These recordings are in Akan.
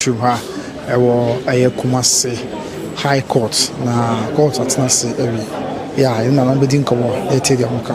Twi ha ɛwɔ ɛyɛ Kumasi high court na court atena ase awie yɛ a yɛn nana bɛdi nkɔmɔ na yɛtie deɛ wɔka.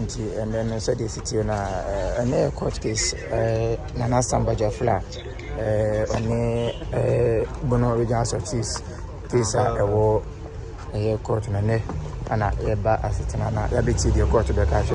nti ɛnɛ no sɛdeɛ ɛsitie no a ɛnɛ yɛ court case nana sambagya fla ɔne bono regional success case a ɛwɔ ɛyɛ court no ɛnɛ ana yɛba asetena na yɛabɛtie deɛ court bɛka hwɛ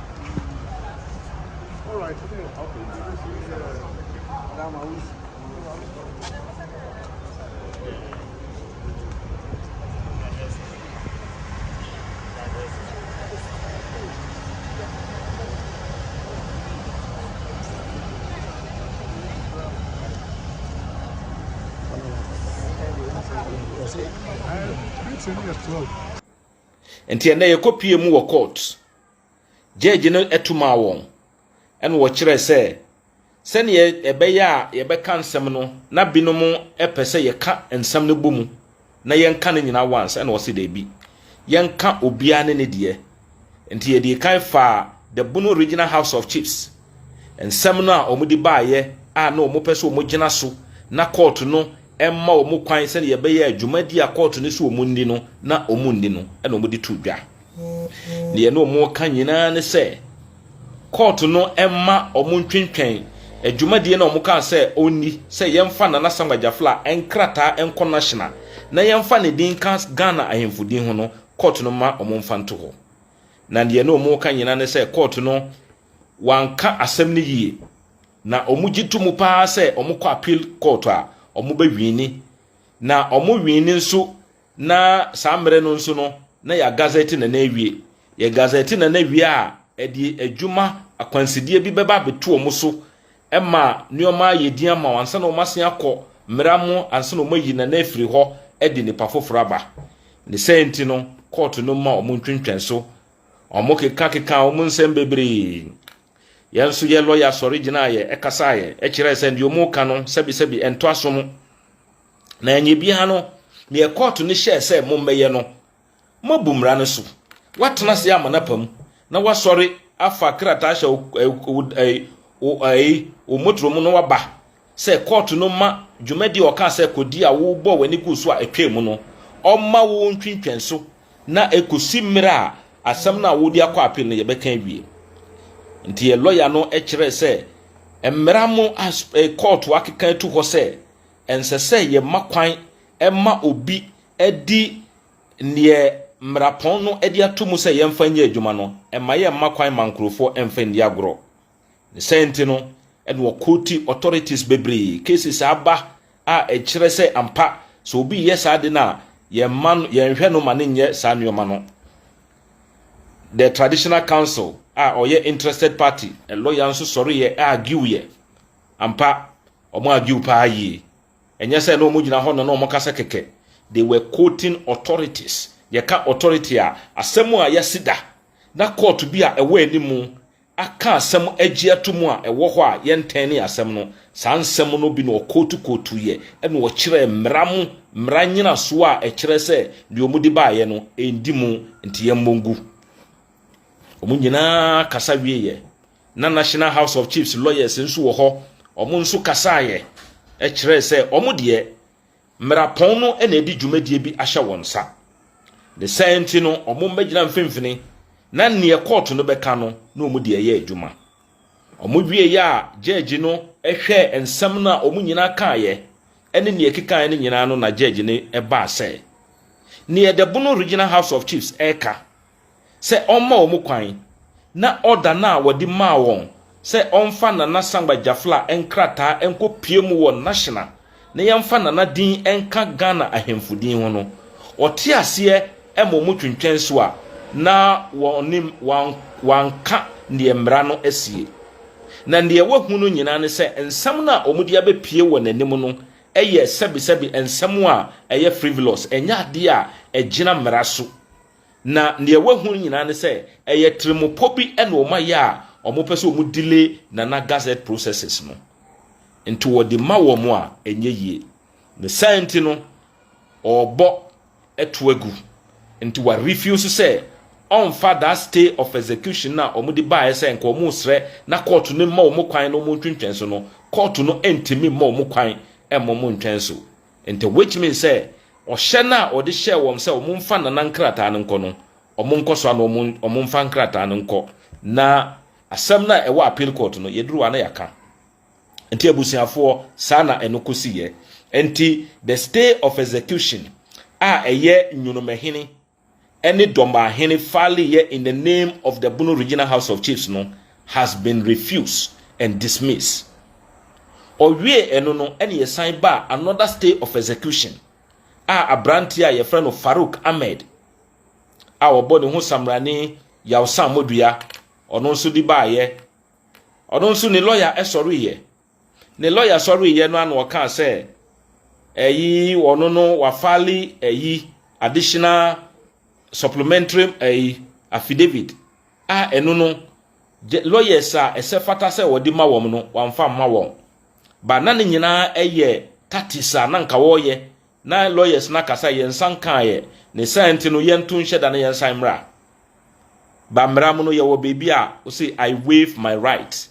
nti ɛnɛ yɛkɔ pie mu wɔ court Gyɛɛgye no to maa wɔn, ɛnna wɔkyerɛe sɛ sɛnea ɛbɛyɛ a yɛbɛka nsɛm no na binom pɛ sɛ yɛka nsɛm no bɔ mu na yɛnka no nyinaa once, ɛnna wɔse dabi, yɛnka obiara ne ne deɛ. Nti yɛde kan faa The Bono Original House of Chiefs nsɛm no a wɔde baeɛ a na wɔpɛ sɛ wɔgyina so na kɔɔto no mma wɔn kwan sɛnea ɛbɛyɛ a dwumadi a kɔɔto no sɛ wɔnni no na wɔnni no na wɔde to dwa. Deɛ na wɔreka nyinaa ne sɛ kɔɔto no mma wɔn ntwentwɛn adwumadie na wɔkaa sɛ ɔnni sɛ yɛmfa Nana Samuel Gyafla nkrataa nkɔ National na yɛmfa ne din nka Ghana ahemfo din ho no, kɔɔto no mma wɔmfa nto hɔ. Na deɛ na wɔreka nyinaa ne sɛ kɔɔto no wanka asɛm no yie na wɔgye to mu paa sɛ wɔkɔ appeal kɔɔto a wɔbɛwini na wɔwini nso Na saa mmerɛ no nso no, na yɛagazɛte Nana awie. Yɛgazɛte Nana wie a, ɛde adwuma akwansideɛ bi bɛba abɛto wɔn so ma nneɛma ayɛ din ama wɔn ansa na wɔasen akɔ mmara mu ansa na wɔayi Nana afiri hɔ de nipa foforɔ aba. Ne saa nti no, kɔɔto no mma wɔn ntwentwɛn so. Wɔkekakekaa wɔn nsɛm bebree. Yɛn nso yɛn lɔya sɔre gyinaaeɛ, ɛkasaeɛ, ɛkyerɛɛ sɛ deɛ wɔreka no sɛbesɛbe ɛntɔ asom. Na ɛnyɛ biara no, deɛ kɔɔto no hyɛɛ sɛ mommɛyɛ no, moabu mmara no so. Woatena ase ama no apa mu, na woasɔre afa krataa ahyɛ wo, wo, wo, wo motoro mu na woaba sɛ kɔɔto no ma dwumadi a ɔkaa sɛ kɔdi a wobɔɔ w'ani guu so a ɛtwaa mu no, ɔmma wo ntwentwɛn so na ɛkɔsi mmerɛ a asɛm no a wode akɔ apil no yɛbɛka awie. Nti yɛ lɔya no kyerɛɛ sɛ mmara mo a kɔɔto akeka atu hɔ sɛ ɛnsɛ sɛ yɛma kwan ma obi di deɛ mmarapɔn no de ato mu sɛ yɛmfa nyɛ adwuma no, ɛmma yɛmma kwan ma nkurɔfoɔ mfa nni agorɔ. Ne saa nti no, ɛna wɔkɔɔti authorities bebree, cases aba a ɛkyerɛ sɛ ampa sɛ obi reyɛ saa ade no a, yɛmma no, yɛnhwɛ no ma no nyɛ saa nneɛma no. The Traditional Council a ɔyɛ interested party, lɔya nso sɔreeɛ argueɛ, ampa, Wɔn argue paa yie. Ɛnyɛ sɛ na wɔn gyina hɔ no na wɔn kasa kɛkɛ. They were quoting authorities. Yɛka authority a, asɛm a yɛasi da na court bi a ɛwɔ anim aka asɛm agye ato mu a ɛwɔ hɔ a yɛntɛnee asɛm no, saa nsɛm no bi na wɔquote quoteeɛ ɛna wɔkyerɛɛ mmara mu mmara nnyinasoɔ a ɛkyerɛ sɛ deɛ wɔde baeɛ no ɛndi mu nti yɛmmɔ ngu. Wɔn nyinaa kasa wieeɛ. na National House of Chiefs lawyers nso wɔ hɔ, wɔn nso kasaeɛ kyerɛɛ sɛ wɔn deɛ mmarapɔn no na ɛde dwumadie bi ahyɛ wɔn nsa. Ne saa nti no, wɔn mmɛgyina mfimfini na neɛ kɔɔto no bɛka no na wɔn deɛ ɛyɛ adwuma. Wɔn wieeɛ a gyɛɛgye no hwɛɛ nsɛm no a wɔn nyinaa kaeɛ ɛne neɛ ɛkekaeɛ no nyinaa no na gyɛɛgye no baa sɛ, neɛ Dɛbono Regional House of Chiefs ɛreka sɛ ɔmma wɔn kwan na ɔda no a wɔde maa wɔn sɛ ɔmfa Nana Sangba Jafla nkrataa nkɔpue mu wɔ National na yɛmfa Nana din nka Ghana ahemfo din ho no, ɔte aseɛ ma wɔn twentwɛn so a na wɔnim wanka deɛ mmara no asie. Na deɛ wahu no nyinaa ne sɛ nsɛm no a wɔde abɛpue wɔ n'anim no yɛ sɛbesɛbe nsɛm a ɛyɛ frivolous, ɛnyɛ adeɛ a ɛgyina mmara so. Na nea wahu nyinaa ne sɛ ɛyɛ tirimupɔ bi na wɔayɛ a wɔpɛ sɛ wɔn delay Nana Gazette processes no. Nti wɔde ma wɔn a ɛnyɛ yie. Ne saa nti no ɔrebɔ to agu. Nti wa refuse sɛ ɔmfa that stay of execution a wɔde baeɛ sɛ nka wɔresrɛ na kɔɔto no mma wɔn kwan na wɔntwentwɛn so no, kɔɔto no ntumi mma wɔn kwan mma wɔntwɛn so. Enti which means sɛ ɔhyɛ no a ɔde hyɛɛ wɔn sɛ wɔmfa Nana nkrataa no nkɔ no, wɔnkɔ so ara na wɔmfa nkrataa no nkɔ na asɛm no a ɛwɔ appeal court no, yɛduru hɔ a na yɛaka. Enti abusuafoɔ, saa na ɛno kɔsiiɛ. Enti the stay of execution a ɛyɛ Nwonomahini, ɛne Dɔmbaahene Faly yɛ in the name of the Bono Regional House of Chiefs no has been refused and dismissed. Ɔwiee ɛno no ɛna yɛsan baa another stay of execution a abranteɛ a yɛfrɛ no Farouk Ahmed a ɔbɔ ne ho Samrani Yawsan Modua ɔno nso de baayɛ. Ɔno nso ne lawyer ɛsɔreeɛ. Ne lɔya sɔreeɛ no ara na ɔkaa sɛ ɛyi ɔno no wafale ɛyi additional supplementary ɛyi affidavit a ɛno no lawyers a ɛsɛ fata sɛ wɔde ma wɔn no wɔamfa mma wɔn ba na ne nyinaa ɛyɛ tatis a na nka wɔreyɛ na lawyers no akasa yɛn nsa nkaeɛ ne saa nti no yɛnto nhyɛ da na yɛn nsan mmra ba mmra mu no yɛwɔ baabi a ɔse I waive my right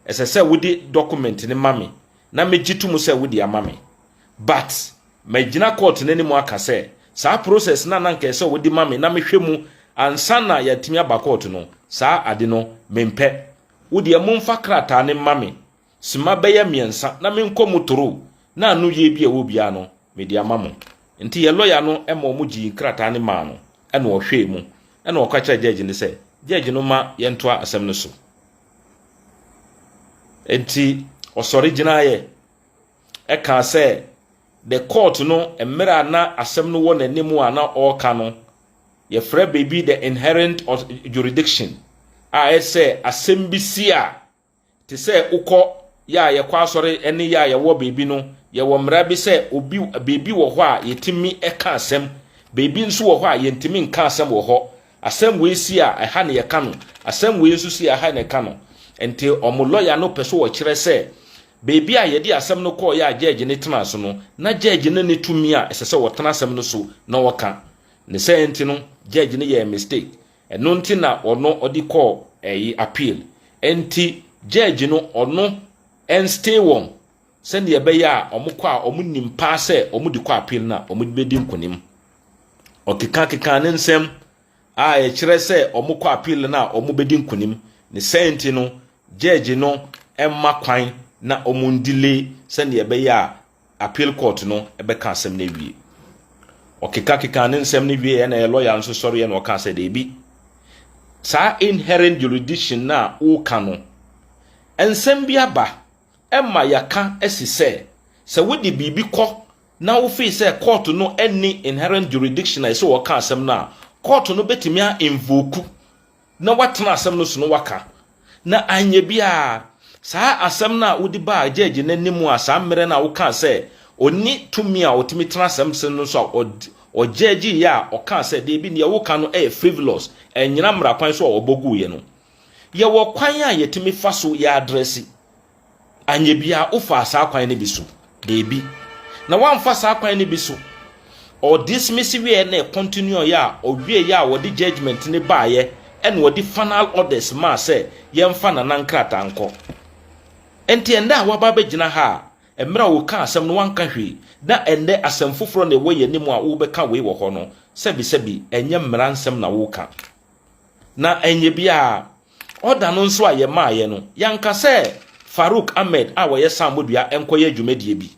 Ɛsɛ sɛ wode document no ma me na megye to mu sɛ wode ama me. But magyina court no anim aka sɛ saa process no a na anka ɛsɛ sɛ wode ma me na mehwɛ mu ansa na yɛatumi aba court no, saa ade no mempɛ. Wo deɛ momfa krataa no mma me sima bɛyɛ mmiɛnsa na menkɔ mu toro na ano yie bi a ɛwɔ biara no mede ama mo. Nti yɛn lawyer no ma wɔn gyee nkrataa no maa no ɛna ɔhwɛɛ mu ɛna ɔka kyerɛɛ judge no sɛ judge no mma yɛntoa asɛm no so. Enti ɔsɔre gyinaeɛ ɛkaa sɛ the court no mmerɛ a na asɛm no wɔ n'anim a na ɔreka no, yɛfrɛ biribi the inherent jurisdiction a ɛyɛ sɛ asɛm bi si a te sɛ wokɔ yɛ a yɛkɔ asɔre ne yɛ a yɛwɔ baabi no yɛwɔ mmara bi sɛ obi baabi wɔ hɔ a yɛtumi ɛka asɛm baabi nso wɔ hɔ a yɛntumi nka asɛm wɔ hɔ Asɛm wei si a, ɛha na yɛka no. Asɛm wei nso si a, ɛha na yɛka no. Enti wɔn lɔya no pɛ sɛ ɔkyerɛ sɛ baabi a yɛde asɛm no kɔeɛ a gyɛɛgye no tenaa so no, na gyɛɛgye no nni tumi a ɛsɛ sɛ ɔtena asɛm no so na ɔka. Ne saa nti no, gyɛɛgye no yɛɛ mistake. Ɛno nti na ɔno ɔde kɔɔ ɛyi, appeal. Enti gyɛɛgye no ɔno ɛnstee wɔn Sɛdeɛ ɛbɛyɛ a wɔkɔ a wɔnim paa sɛ wɔde kɔ appeal no a wɔbɛdi nkonim. Ɔkekakekaa ne nsɛm a ɛkyerɛ sɛ wɔkɔ appeal no a wɔbɛdi nkonim. Ne sɛn nti no, judge no mma kwan na wɔndile sɛdeɛ ɛbɛyɛ a appeal court no bɛka asɛm no awie. Ɔkekakekaa ne nsɛm no wieɛ na yɛ lawyer nso sɔreɛ na ɔka sɛ daabi. Saa inherent jurisdiction no a woka no, nsɛm bi aba Ɛma yɛaka si sɛ, sɛ wode biribi kɔ na wofii sɛ kɔɔto no nni inherent jurisdiction a ɛsɛ wɔka asɛm no a, kɔɔto no bɛtumi a invoke na watena asɛm no so na waka. Na anyɛ biara, saa asɛm no a wode baa gyɛɛgye no anim a saa mmerɛ no a wokaa sɛ ɔnni tumi a ɔtumi tena asɛm so no so a ɔgyɛɛgyeeɛ a ɔkaa sɛ, dabi, deɛ woka no yɛ frivolous, ɛnnyina mmara kwan so a wɔbɔ guiɛ no, Yɛwɔ kwan a yɛtumi fa so yɛ adrɛse. Anyɛ biara wofaa saa kwan no bi so? Dabi. Na woamfa saa kwan no bi so. Ɔdismisi wieɛ na ɛcontinue ɔyɛ a ɔwieɛ a wɔde judgment no baeɛ ɛna ɔde final orders maa sɛ yɛmfa nana nkrataa nkɔ. Nti ɛnnɛ a woaba abɛgyina ha a mmerɛ a wokaa asɛm no woanka hwee na ɛnnɛ asɛm foforɔ na ɛwɔ yɛn anim a wobɛka wei wɔ hɔ no sɛbisɛbi ɛnyɛ mmara nsɛm na woka. Na ɛnyɛ biara, ɔda no nso a yɛmaaeɛ no, yɛanka sɛ Farouk Ahmed a ɔyɛ sammɔdua nkɔyɛ adwumadie bi.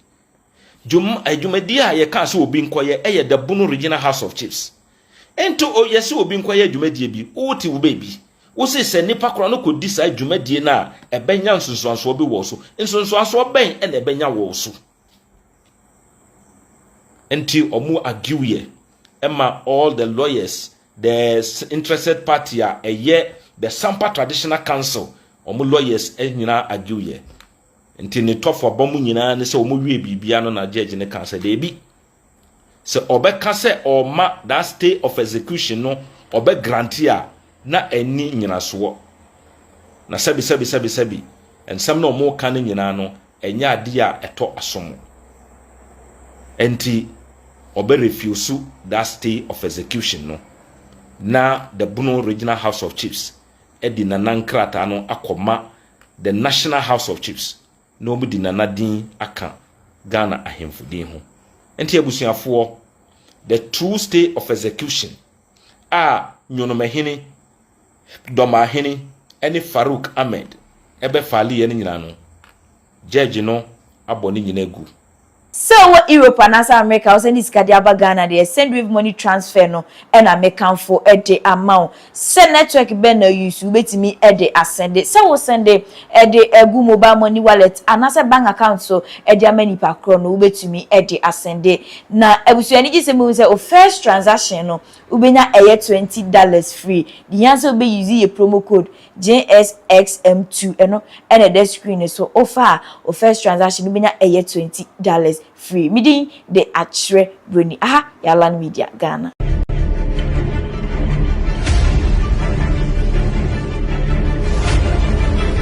Dwuma, adwumadie a yɛkaa sɛ obi nkɔyɛ yɛ Dabuno Regional House of Chiefs. Nti o, yɛse obi nkɔyɛ adwumadie bi, wote wo baabi. Wose sɛ nnipa korɔ no kɔdi saa dwumadie no a, ɛbɛnya nsunsuansoɔ bi wɔ wo so. Nsunsuansoɔ bɛn na ɛbɛnya wɔ wo so? Nti ɔmo argue yɛ ɛma all the lawyers the interested party a ɛyɛ the sampa traditional council ɔmo lawyers nyinaa argue yɛ nti ne tɔfo aba mu nyinaa ne sɛ ɔmo wie biribiara no na judge ne kan sɛ deebi Sɛ ɔbɛka sɛ ɔrema that stay of execution no ɔbɛ grante a, na ɛnni nnyinasoɔ. Na sɛbi sɛbi sɛbi sɛbi, nsɛm no a wɔreka no nyinaa no, ɛnyɛ adeɛ a ɛtɔ asom. Ɛnti, ɔbɛ refuse that stay of execution no, na the Bono Regional House of Chiefs de Nana nkrataa no akɔma the National House of Chiefs. na wɔn de Nana din aka Ghana ahemfo din ho. Nti abusuafoɔ, the true stay of execution a Nyonomahene, Dɔmahene ɛne Farouk Ahmed ɛbɛ faleɛ no nyinaa no, Judge no abɔ ne nyinaa agu. Sɛ wowɔ Europe anaasɛ Amerika a, wo sɛnde sika de aba Ghana deɛ, Sendwave money transfer no na me kanfo de ama wo. Sɛ network bɛn na wo use, wobɛtumi de asɛnde. Sɛ wo sɛnde de agu mobile money wallet anaasɛ bank account so de ama nipa korɔ no, wobɛtumi de asɛnde. Na abusua anigye sɛm bɛhu sɛ wo first transaction no, wobɛnya ɛyɛ twenty dollars free. Deɛ hia sɛ wobɛ use yɛ promo code JSXM2 ɛno na ɛda screen no so wofa a wo first transaction no bɛnya ɛyɛ twenty dollars free me din de Akyerɛ Broni aha yɛ Alan Media Ghana.